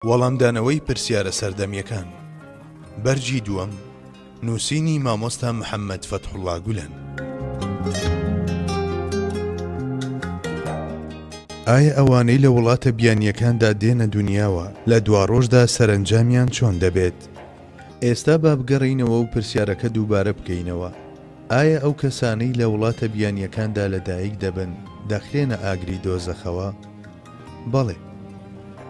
وەڵامدانەوەی پرسیارە سەردەمیەکان بەرگی دووەم نووسینی مامۆستا محەممەد فەتحوڵا گولەن. ئایا ئەوانەی لە وڵاتە بیانییەکاندا دێنە دنیاوە لە دواڕۆژدا سەرنجامیان چۆن دەبێت؟ ئێستا با بگەڕێینەوە و پرسیارەکە دووبارە بکەینەوە، ئایا ئەو کەسانەی لە وڵاتە بیانییەکاندا لەدایک دەبن دەخرێنە ئاگری دۆزەخەوە؟ بەڵێ،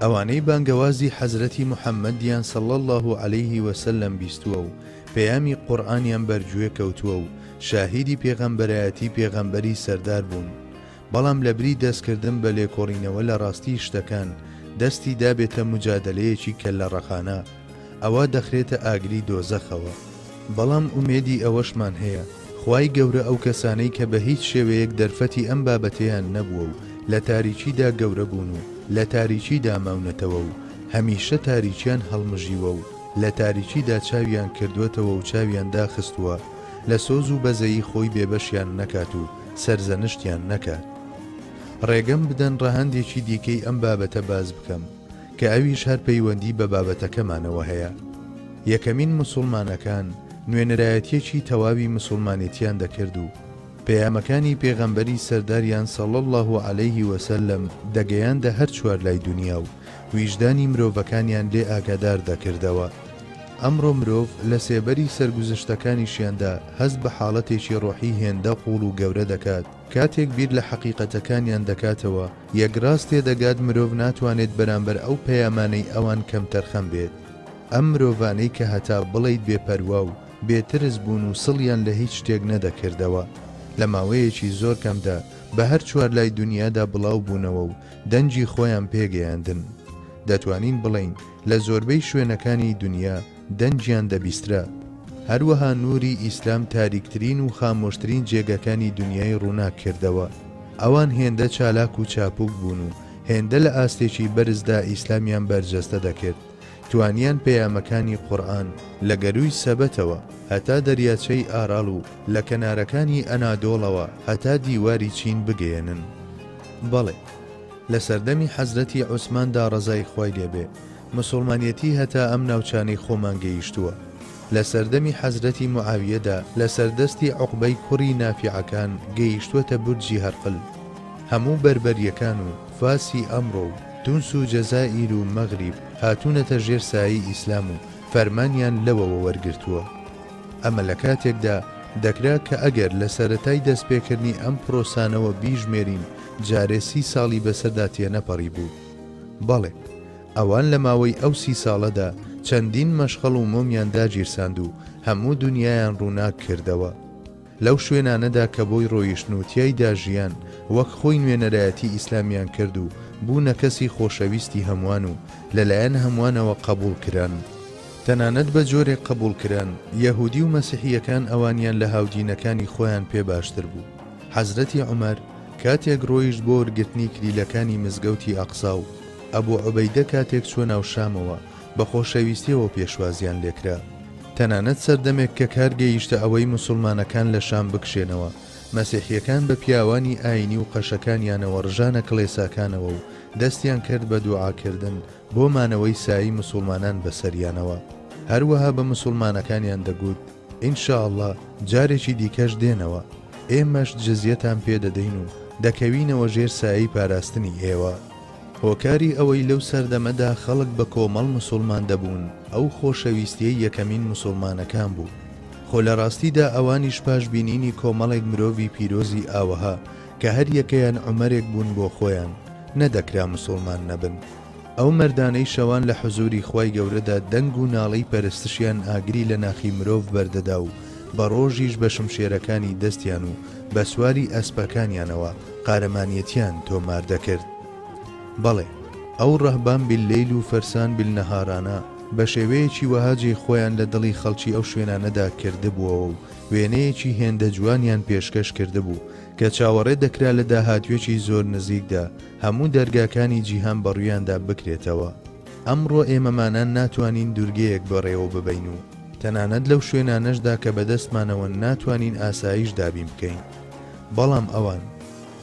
ئەوانەی بانگەوازی حەزرەتی محەممەدیان صلی اللە علیه و سلم بیستووە و پەیامی قورئانیان بەرگوێ کەوتووە و شاهیدی پێغەمبەرایەتی پێغەمبەری سەردار بوون، بەڵام لەبری دەستکردن بە لێکۆڵینەوە لە ڕاستیی شتەکان، دەستی دابێتە موجادەلەیەکی کەللەڕەقانە، ئەوا دەخرێتە ئاگری دۆزەخەوە، بەڵام ئومێدی ئەوەشمان هەیە خوای گەورە ئەو کەسانەی کە بە هیچ شێوەیەک دەرفەتی ئەم بابەتەیان نەبووە و لە تاریکیدا گەورە بوون و لە تاریکیدا ماونەتەوە و هەمیشە تاریکیان هەڵمژیوە و لە تاریکیدا چاویان کردووەتەوە و چاویان داخستووە لە سۆز و بەزەیی خۆی بێبەشیان نەکات و سەرزەنشتیان نەکات. ڕێگەم بدەن ڕەهەندێکی دیکەی ئەم بابەتە باس بکەم. کە ئەویش هەر پەیوەندی بە بابەتەکەمانەوە هەیە، یەکەمین مسوڵمانەکان نوێنەرایەتیەکی تەواوی مسوڵمانێتیان دەکرد و پەیامەکانی پێغەمبەری سەرداریان صلی اللە علیه و سلم دەگەیاندە هەر چوار لای دونیا و ویژدانی مرۆڤەکانیان لێ ئاگادار دەکردەوە، ئەمڕۆ مرۆڤ لە سێبەری سەرگوزشتەکانیشیاندا هەست بە حاڵەتێکی ڕۆحی هێندە قوڵ و گەورە دەکات، کاتێک بیر لە حەقیقەتەکانیان دەکاتەوە، یەکڕاست تێدەگات مرۆڤ ناتوانێت بەرامبەر ئەو پەیامانەی ئەوان کەمتەرخەم بێت. ئەم مرۆڤانەی کە هەتا بڵێیت بێپەروا و بێترس بوون و سڵیان لە هیچ شتێک نەدەکردەوە، لە ماوەیەکی زۆر کەمدا بە هەر چوارلای دونیادا بڵاو بوونەوە و دەنگی خۆیان پێگەیاندن. دەتوانین بڵێین لە زۆربەی شوێنەکانی دونیا، دەنگیان دەبیسترا. هەروەها نووری ئیسلام تاریکترین و خامۆشترین جێگەکانی دونیای ڕووناک کردەوە. ئەوان هێندە چالاک و چاپوک بوون و هێندە لە ئاستێکی بەرزدا ئیسلامیان بەرجەستە دەکرد، توانیان پەیامەکانی قورئان لە گەرووی سەبەتەوە هەتا دەریاچەی ئاراڵ و لە کەنارەکانی ئەنادۆڵەوە هەتا دیواری چین بگەیەنن. بەڵێ، لە سەردەمی حەزرەتی عوسماندا ڕەزای خوای لێ بێ، مسوڵمانیەتی هەتا ئەم ناوچانەی خۆمان گەیشتووە. لە سەردەمی حەزرەتی موعاویەدا لە سەر دەستی عوقبەی کوڕی نافیعەکان گەیشتووەتە بورجی هەرقل. هەموو بەربەریەکان و فارسی ئەمڕۆ و تونس و جەزائیر و مەغریب هاتوونەتە ژێر سایەی ئیسلام و فەرمانیان لەوەوە وەرگرتووە. ئەمە لە کاتێکدا دەکرا کە ئەگەر لە سەرەتای دەستپێکردنی ئەم پرۆسانەوە بیژمێرین جارێ سی ساڵی بەسەردا تێنەپەڕیبوو. بەڵێ! ئەوان لە ماوەی ئەو سی ساڵەدا چەندین مەشخەڵ و مۆمیان داگیرساند و هەموو دونیایان ڕووناک کردەوە. لەو شوێنانەدا کە بۆی ڕۆیشتن و تیایدا ژیان، وەک خۆی نوێنەرایەتی ئیسلامیان کرد و بوونە کەسی خۆشەویستی هەموان و لەلایەن هەموانەوە قەبووڵ کران. تەنانەت بە جۆرێک قەبووڵ کران، یەهودی و مەسیحییەکان ئەوانیان لە هاودینەکانی خۆیان پێ باشتر بوو. حەزرەتی عومەر کاتێک ڕۆیشت بۆ وەرگرتنی کلیلەکانی مزگەوتی ئەقسا و ئەبو عوبەیدە کاتێک چووە ناو شامەوە، بە خۆشەویستییەوە پێشوازییان لێکرا. تەنانەت سەردەمێک کە کار گەیشتە ئەوەی موسوڵمانەکان لە شام بکشێنەوە، مەسیحییەکان بە پیاوانی ئایینی و قەشەکانیانەوە ڕژانە کڵێساکانەوە و دەستیان کرد بە دوعاکردن بۆ مانەوەی سایەی موسوڵمانان بەسەریانەوە. هەروەها بە موسوڵمانەکانیان دەگوت، ان شاء اللە جارێکی دیکەش دێنەوە. ئێمەش جزیەتان پێ دەدەین و دەکەوینەوە ژێر سایەی پاراستنی ئێوە. هۆکاری ئەوەی لەو سەردەمەدا خەڵک بە کۆمەڵ مسوڵمان دەبوون ئەو خۆشەویستیەی یەکەمین مسوڵمانەکان بوو، خۆ لە ڕاستیدا ئەوانیش پاش بینینی کۆمەڵێک مرۆڤی پیرۆزی ئاوەها کە هەر یەکەیان عومەرێک بوون بۆ خۆیان، نەدەکرا مسوڵمان نەبن. ئەو مەردانەی شەوان لە حزوری خوای گەورەدا دەنگ و ناڵەی پەرستشیان ئاگری لە ناخی مرۆڤ بەردەدا و بە ڕۆژیش بە شمشێرەکانی دەستیان و بە سواری ئەسپەکانیانەوە قارەمانیەتیان تۆمار دەکرد. بەڵێ، ئەو رهبان باللیل و فرسان بالنهارانە بە شێوەیەکی وەها جێی خۆیان لە دڵی خەڵکی ئەو شوێنانەدا کردبووەوە و وێنەیەکی هێندە جوانیان پێشکەش کردبوو کە چاوەڕێ دەکرا لە داهاتوێکی زۆر نزیکدا هەموو دەرگاکانی جیهان بەڕوویاندا بکرێتەوە. ئەمڕۆ ئێمەمانان ناتوانین دوورگەیەک بەڕێوە ببەین و تەنانەت لەو شوێنانەشدا کە بەدەستمانەوەن ناتوانین ئاسایش دابین بکەین، بەڵام ئەوان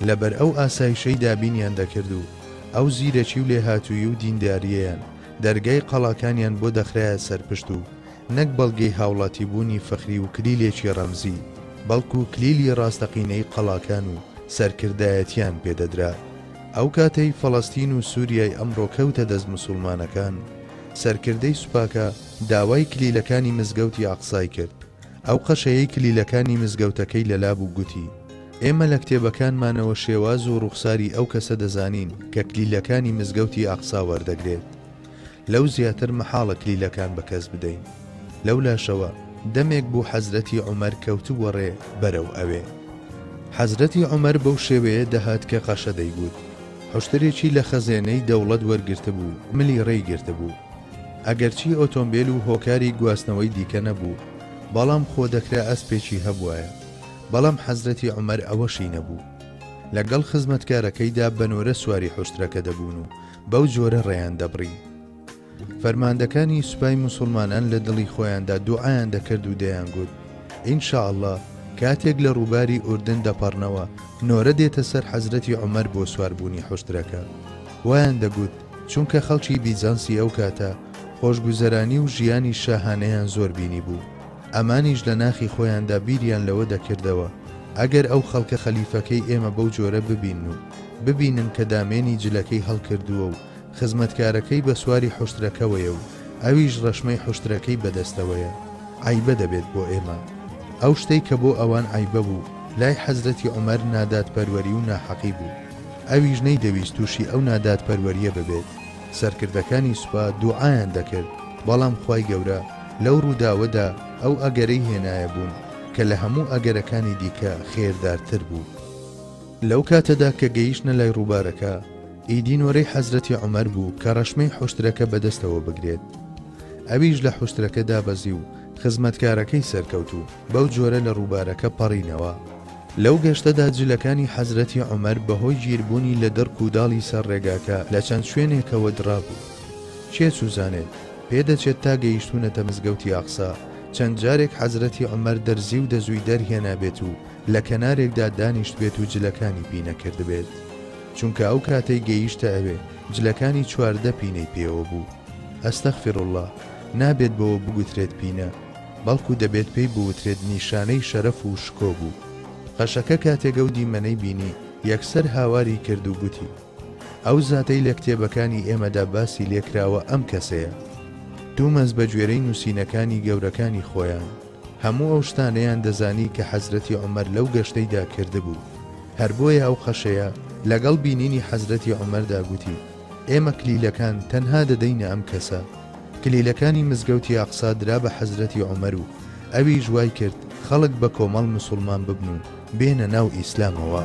لەبەر ئەو ئاسایشەی دابینیان دەکرد و ئەو زیرەکی و لێهاتوویی و دیندارییەیان دەرگای قەڵاکانیان بۆ دەخرایە سەرپشت و نەک بەڵگەی هاوڵاتیبوونی فەخری و کلیلێکی ڕەمزی بەڵکو کلیلی ڕاستەقینەی قەڵاکان و سەرکردایەتییان پێدەدرا. ئەو کاتەی فەڵەستین و سوریای ئەمڕۆ کەوتە دەست مسوڵمانەکان، سەرکردەی سوپاکە داوای کلیلەکانی مزگەوتی ئەقسای کرد، ئەو قەشەیەی کلیلەکانی مزگەوتەکەی لەلابوو گوتی، ئێمە لە کتێبەکانمانەوە شێواز و ڕوخساری ئەو کەسە دەزانین کە کلیلەکانی مزگەوتی ئەقسا وەردەگرێت. لەو زیاتر مەحاڵە کلیلەکان بە کەس بدەین. لەولاشەوە دەمێک بوو حەزرەتی عومەر کەوتبووە ڕێ بەرەو ئەوێ. حەزرەتی عومەر بەو شێوەیە دەهات کە قەشە دەیگوت. حوشترێکی لە خەزێنەی دەوڵەت وەرگرتبوو و ملی ڕێی گرتبوو. ئەگەرچی ئۆتۆمبێل و هۆکاری گواستنەوەی دیکە نەبوو، بەڵام خۆ دەکرا ئەسپێکی هەبوایە. بەڵام حەزرەتی عومەر ئەوەشی نەبوو. لە گەڵ خزمەتکارەکەیدا بە نۆرە سواری حوشترەکە دەبوون و بەو جۆرە ڕێیان دەبڕی. فەرماندەکانی سوپای موسڵمانان لە دڵی خۆیاندا دوعایان دەکرد و دەیانگوت، ئینشاءاللە کاتێک لە ڕووباری ئوردن دەپەڕنەوە، نۆرە دێتە سەر حەزرەتی عومەر بۆ سواربوونی حوشترەکە. وایان دەگوت، چونکە خەڵکی بیزانسی ئەو کاتە، خۆشگوزەرانی و ژیانی شاهانەیان زۆر بینیبوو. ئەمانیش لە ناخی خۆیاندا بیریان لەوە دەکردەوە ئەگەر ئەو خەڵکە خەلیفەکەی ئێمە بەو جۆرە ببینن و ببینن کە دامێنی جلەکەی هەڵکردووە و خزمەتکارەکەی بە سواری حوشترەکەوەیە و ئەویش ڕەشمەی حوشترەکەی بە دەستەوەیە عەیبە دەبێت بۆ ئێمە. ئەو شتەی کە بۆ ئەوان عەیبە بوو، لای حەزرەتی عومەر نادادپەروەری و ناحەقی بوو، ئەویش نەیدەویست تووشی ئەو نادادپەروەرییە ببێت. سەرکردەکانی سوپا دوعایان دەکرد، بەڵام خوای گەورە لەو ڕووداوەدا ئەو ئەگەرەی هێنایە بوون کە لە هەموو ئەگەرەکانی دیکە خێردارتر بوو. لەو کاتەدا کە گەیشتنە لای ڕووبارەکە، ئیدی نۆرەی حەزرەتی عومەر بوو کە ڕەشمەی حوشترەکە بەدەستەوە بگرێت. ئەویش لە حوشترەکە دابەزی و خزمەتکارەکەی سەرکەوت و. بەو جۆرە لە ڕووبارەکە پەڕینەوە. لەو گەشتەدا جلەکانی حەزرەتی عومەر بەهۆی گیربوونی لە دڕک و داڵی سەر ڕێگاکە لە چەند شوێنێکەوە دڕابوو. کێ چوزانێت، پێدەچێت تا گەیشتوونەتە مزگەوتی ئەقسا، چەند جارێک حەزرەتی عومەر دەرزی و دەزووی دەرهێنابێت و لە کەنارێکدا دانیشتبێت و جلەکانی پی نەکردبێت. چونکە ئەو کاتەی گەیشتە ئەوێ، جلەکانی چواردە پینەی پێوە بوو. استغفراللە، نابێت بەوە بگوترێت پینە. بەڵکو دەبێت پێی بوترێت نیشانەی شەرەف و شکۆ بوو. قەشەکە کاتێک ئەو دیمەنەی بینی، یەکسەر هاواری کرد و گوتی، ئەو زاتەی لە کتێبەکانی ئێمەدا باسی لێ کراوە ئەم کەسەیە. تومەز بە گوێرەی نووسینەکانی گەورەکانی خۆیان، هەموو ئەو شتانەیان دەزانی کە حەزرەتی عومەر لەو گەشتەیدا کردبوو، هەر بۆیە ئەو قەشەیە لەگەڵ بینینی حەزرەتی عومەردا گوتی، ئێمە کلیلەکان تەنها دەدەینە ئەم کەسە. کلیلەکانی مزگەوتی ئەقسا درا بە حەزرەتی عومەر و ئەویش وای کرد خەڵک بە کۆمەڵ مسوڵمان ببن و بێنە ناو ئیسلامەوە.